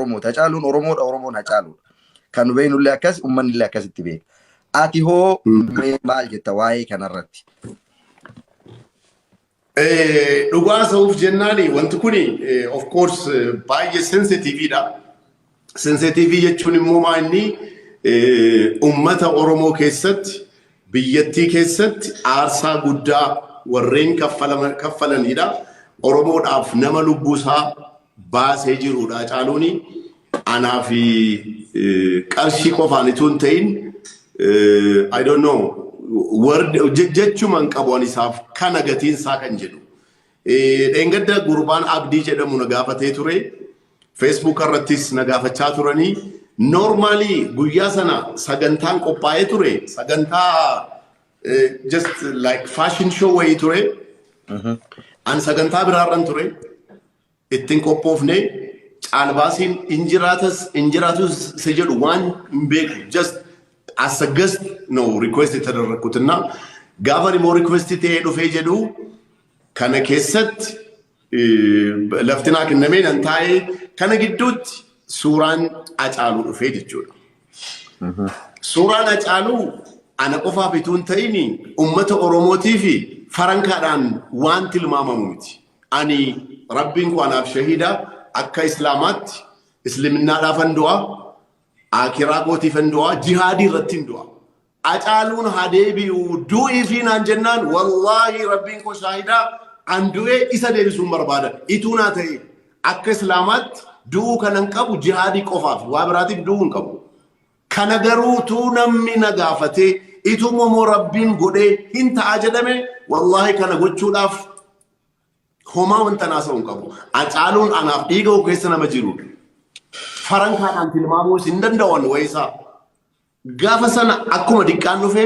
Oromooti. Hacaaluun Oromoodha, Oromoon Hacaaluudha. Kan nu beeknullee akkas, uummanni illee akkasitti beeka. Ati hoo mee maal jetta waa'ee kanarratti? Dhugaa sa'uuf jennaan wanti kun of course baay'ee sensitiviidha. Sensitivii jechuun immoo maa inni uummata Oromoo keessatti biyyattii keessatti aarsaa guddaa warreen kaffalanidha. Oromoodhaaf nama lubbuusaa baasee jiruudha. Hacaaluun anaa fi qarshii qofaan itoo hin ta'in I don't know word je- jechuma hin qabu ani isaaf kana gatiin isaa kan jedhu. Eh, Dheengadda gurbaan Abdii jedhamu na gaafatee ture. Facebook irrattis na gaafachaa turanii. Normaalii guyyaa sana sagantaan qophaa'ee ture. Sagantaa Eh, just like fashion show wayii ture. An sagantaa biraarran ture. Ittiin qophoofne caalbaasiin hin jiraatas hin jiraatus isa jedhu waan hin beeku. Just as a guest no request tadarrakkutinna. Gaafa immoo request ta'ee dhufee jedhu kana keessatti lafti naa kennamee nan taa'ee kana gidduutti suuraan acaaluu dhufee jechuudha. Suuraan acaaluu ana qofaaf utuu hin ta'in uummata Oromootii fi farankaadhaan waan tilmaamamu miti. Ani rabbiin koo anaaf shahiida akka islaamaatti islaminaadhaaf hin du'a akiraa kootiif hin du'a jihaadii irratti hin du'a. Acaaluun haa deebi'u du'iifii naan jennaan wallaahi rabbiin koo shaahida an du'ee isa deebisuun barbaada ituu naa ta'e akka islaamaatti du'uu kanan qabu jihaadii qofaaf waa biraatiif du'uu hin qabu kana garuu tuu namni na gaafatee ituu momoo rabbiin godhee hin ta'a jedhame wallaahi kana gochuudhaaf homaa wanta naasa'u hin qabu acaaluun anaaf dhiiga koo keessa nama jiruudha farankaadhaan tilmaamuu isin danda'an wayisaa Gaafa sana akkuma diqqaan dhufe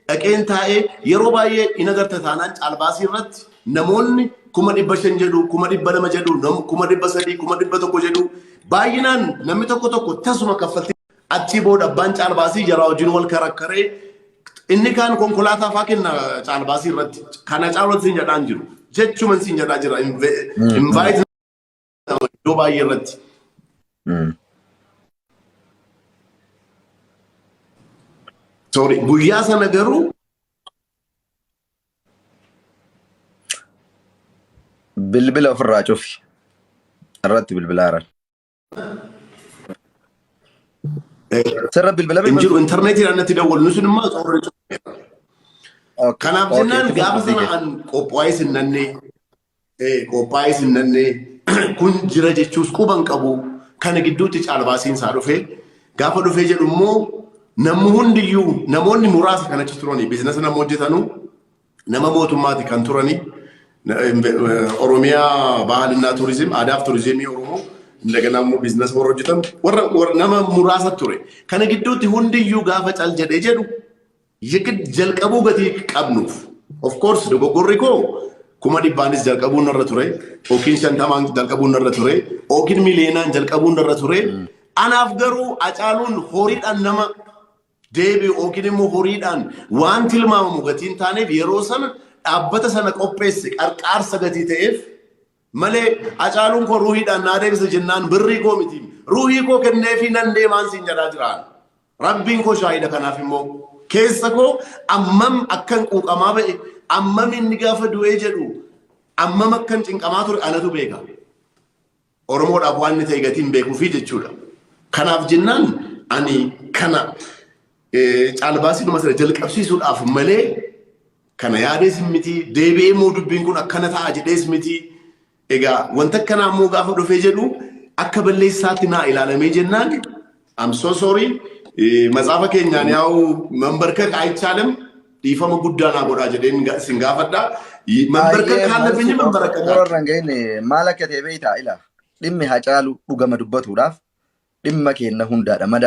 dhaqeen taa'ee yeroo baay'ee in agarta taanaan caalbaasii irratti namoonni kuma dhibba shan jedhu, kuma dhibba lama jedhu, nam- kuma dhibba sadii, kuma dhibba tokko jedhu baay'inaan namni tokko tokko tasuma kaffaltii achii booda abbaan caalbaasii jaraa wajjin wal karakkaree inni kaan konkolaataa faa kenna caalbaasii irratti kana caalatti siin jedhaan jiru jechuman siin jedhaa jira invite argama iddoo baay'ee irratti. Sorry, guyyaa sana garuu Bilbila ofirraa cufi. Irratti bilbilaa jiran. eh, Sirra bilbila hin jiru intarneetiidhaan natti dawwalu nuti immoo soorri cufneera. Kanaaf jennaan gaafa sana an qophaa'ee sinnannee ee qoophaa'ee sin nannee kun jira jechuus quba hin qabu kana gidduutti caalbaasiin isaa dhufee gaafa dhufee jedhu immoo namni hundiyyuu namoonni muraasa kan achi turanii biizinasa nama hojjetanuu nama mootummaati kan turanii na- em- eh, Oromiyaa bahalinaa turizim aadaaf turizimii Oromoo daganaa immoo biizinasa warra hojjetan warra warra- nama muraasa ture kana gidduutti hundiyyuu gaafa cal jedhee jedhu Yegid jalqabuu gatii qabnuuf. Of course dogoggorri koo kuma dhibbaanis jalqabuun narra ture, yookiin shantamaan jalqabuun narra ture, yookiin miliyoonaan jalqabuun narra ture. Anaaf garuu acaaluun horiidhaan nama deebi'u yookiin immoo horiidhaan waan tilmaamamu gatiin taaneef yeroo sana dhaabbata sana qopheesse qarqaarsa gatii ta'eef malee Hacaaluun koo ruuhiidhaan naa deebisa jennaan birrii koo miti ruuhii koo kenneefii nan deemaan siin jedhaa jiraan rabbiin koo shaahida kanaaf immoo keessa koo ammam akkan quuqamaa ba'e ammam inni gaafa du'ee jedhu ammam akkan cinqamaa ture anatu beeka oromoodhaaf waan inni ta'e gatiin beekuufi jechuudha kanaaf jennaan ani kana eh, caalbaasii dhuma sana jalqabsiisuudhaaf malee Kana yaadees miti, deebi'ee immoo dubbiin kun akkana ta'a jedhees miti. Egaa wanta akkanaa immoo gaafa dhufee jedhu akka balleessaatti naa ilaalamee jennaan I'm so sorry eh, matsaafa keenyaan yaa'u mambarkak ayichaalam dhiifama guddaa naa godhaa jedheen ga- sin gaafadha. Y- Mambarkak Baay'ee kaan lafeenye maaltu mambarkak xumura akka. irraan ga'in maal akka ta'e beektaa ila dhimmi hacaalu dhugama dubbatuudhaaf dhimma keenna hundaadha madaa